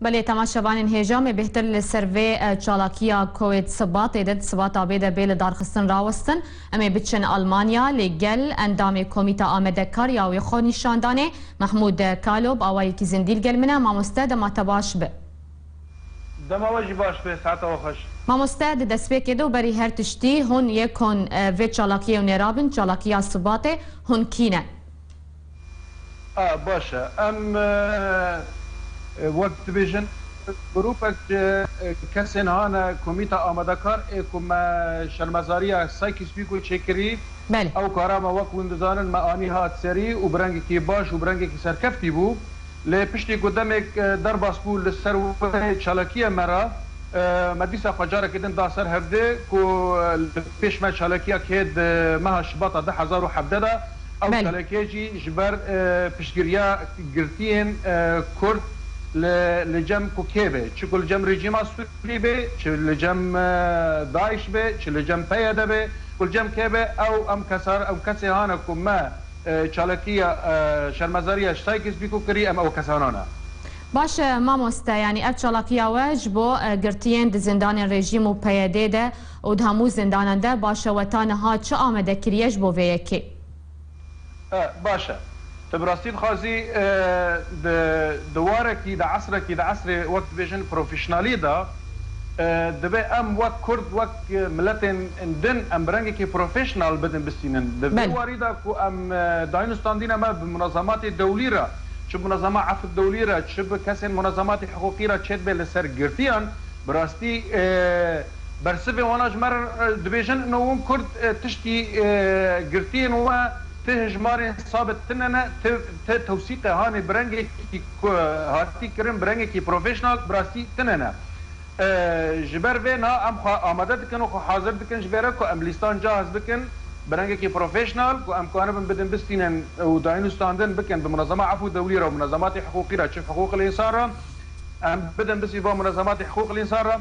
Belê tema şevanên hêjamê bêhtir li ser vê çalakiya koê di sibatê de di sibata bê de bê li darxistin rawestin. Em ê biçin Almanya lê gel endamê komîta Amede kariya wê xwe nîşan danê. Mehmûd Kalo bi awayekî zindî li gel min e, Mamoste dema te baş be. Dema we jî baş be, saeta we xweş. Mamoste di destpêkê de û berî her tiştî, hûn yek hûn vê çalakiyê û nêrabin, çalakiya sibatê, hûn kî ne? A, baş e. Em wek dibêjin grûpek ji kesên hane Komîta Amadekar ê ku me şermezariya Sykes Pîko çêkirî. Belê. Ew kara me wek hûn dizanin me anî hat serî û bi rengekî baş û bi rengekî serkeftî bû. Lê piştî ku demêk derbas bû li ser wê çalakiya me re, me dîsa xwe carekê din da ser hevdê ku li pêş me çalakiya kê di meha Şibata du hezar û hevdeh de, Ew çalakiyê jî ji ber piştgiriya girtiyên Kurd li cem ku kê be, çi ku li cem rejîma Sûrî be, çi li cem DAIŞ be, çi li cem PYD be, ku li cem kê be, ew em kesar ew kesê hane ku me çalakiya şermezariya ji Sykes Bîko kirî, em ew kesanan e. Baş e mamoste, yanî ev çalakiya we ji bo girtiyên di zindanên rejîm û PYD'ê de, Û di hemû zindanan de baş e we ta niha çi amade kiriye ji bo vê yekê? E, baş e. Tu bi rastî dixwazî di di warekî, di esrekî, di esrê wek dibêjin profîşnalî de dibe em wek kurd, wek miletên din em bi rengekî profîşnal bidin bisînin. Di vê Belê. warî de ku em dayîn û standîna me bi munezematê dewlî re, çi bi munezema efk dewlî re, çi bi kesên munezematê hiqûqî re çêdibe li ser girtiyan, bi rastî, Bersivê wan a ji me re dibêjin ino wan Kurd tiştî girtiyên we ti hijmarên sabit tine ne, ti ti tewsîqe hanê bi rengekî ku hatî kirin bi rengekî professional bi rastî tine ne. Ji ber vê na em xwe amade dikin û xwe hazir dikin ji vê re ku em lîstan cahz bikin bi rengekî professional ku em kanibin bidin bistînin û daynûstandin bikin bi munezema efû dewlî re û munezematê hiqûqî re çi hiqûqil însan re em bidin bisî van munezematê hiqûqil însan re.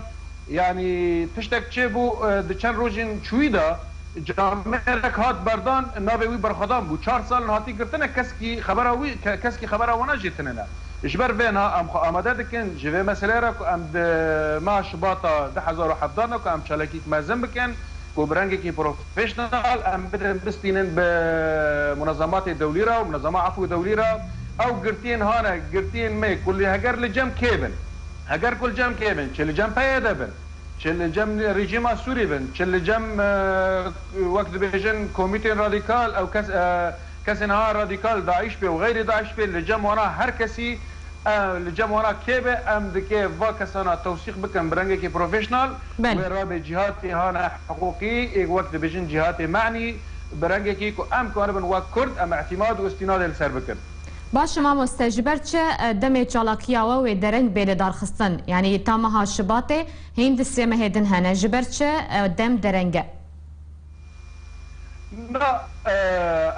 Yanî tiştek çêbû di çend rojên çûyî de camêrek hat berdan navê wî berxwedan bû. Çar sal in hatî girtine keskî xebera wî keskî xebera wan jê tinene. Ji ber vê na em xwe amade dikin ji vê meseleyê re ku em di meha Şibata du hezar û hevdeh de ku em çalakîk mezin bikin ku bi rengekî professional em birin bistînin bi munezematê dewlî re û munezema efw dewlî re ew girtiyên hane girtiyên me kulî heger li cem kê bin. Heger ku li cem kê bin, çi li cem PYD'ê bin, çi li cem rejîma Sûrî bin, çi li cem wek dibêjin komîtên radîkal ew kes kesên ha radîkal DAIŞ bê û xeyrê DAIŞ bê li cem wana her kesî li cem wana kê be em dikê va kesana tewsîq bikin bi rengekî professional wê rabe cîhatê ha ne hiqûqî ê wek dibêjin cîhatê menî bi rengekî ku em karibin wek kurd em îtîmad û îstînadê li ser bikin. Baş e mamoste ji ber çi demê çalakiya we wê dereng bê lidarxistin? Yanî ta meha Şibatê hîn di Sêmehê din hene ji ber çi dem dereng e? Na,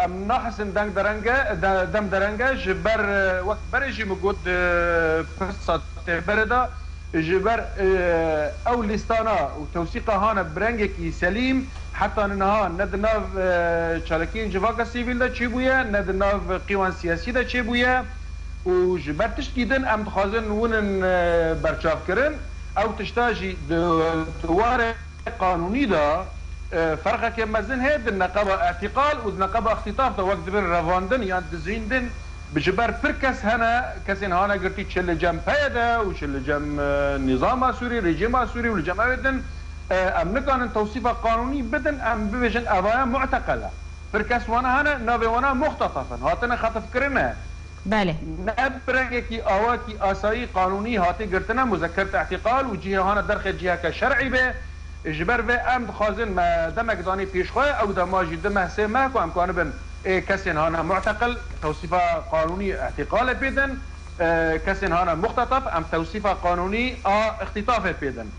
em nahizin deng dereng e, dem dereng e ji ber wek berê jî min got di pirsa têberê de, Ji ber ew lîstana û tewsîqa hane bi rengekî selîm heta niha ne di nav çalakiyên civaka sivîl de çêbûye ne di nav qîwan siyasî de çêbûye û ji ber tiştkî din em dixwazin win in berçavkirin. Ew tişta jî di di warê qanûnî de ferqeke mezin heye di neqeba îtîqal û di neqeba îxtîtaf de wek dibin revandin yan dizîndin. Ji ber pir kes hene, kesên hane girtî çi li cem PYD û çi li cem nîzama Sûrî, rejîma Sûrî û li cem ew ê din, em nikanin tewsîfa qanûnî bidin, em bibêjin evaya mu'teqel e. Pir kes wana hene, navê wan a muxtataf in, hatine xetifkirine. Belê. Ne bi rengekî awakî asayî, qanûnî hatê girtine muzekert i'tîqal û cihê hane derxê ciheke şer'î bê. Ji ber vê em dixwazin me demek danî pêş xwe, ew dema jî di meh sê meh ku em kanibin Ê kesên hane mu'teqil tewsîfa qanûnî î'tîqalê pê din, kesên hane muxtetef em tewsîfa qanûnî a îxtîtafê pê din.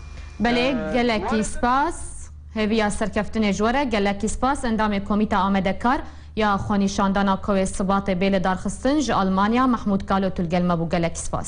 Belê, gelekî spas. Hêviya serkeftinê ji we re gelekî spas endamê Komîta Amede Kar ya xwenîşandana Kowê Sibatê bê lidarxistin ji Almanya Mehmûd Kalo tu li gel me bû gelekî spas.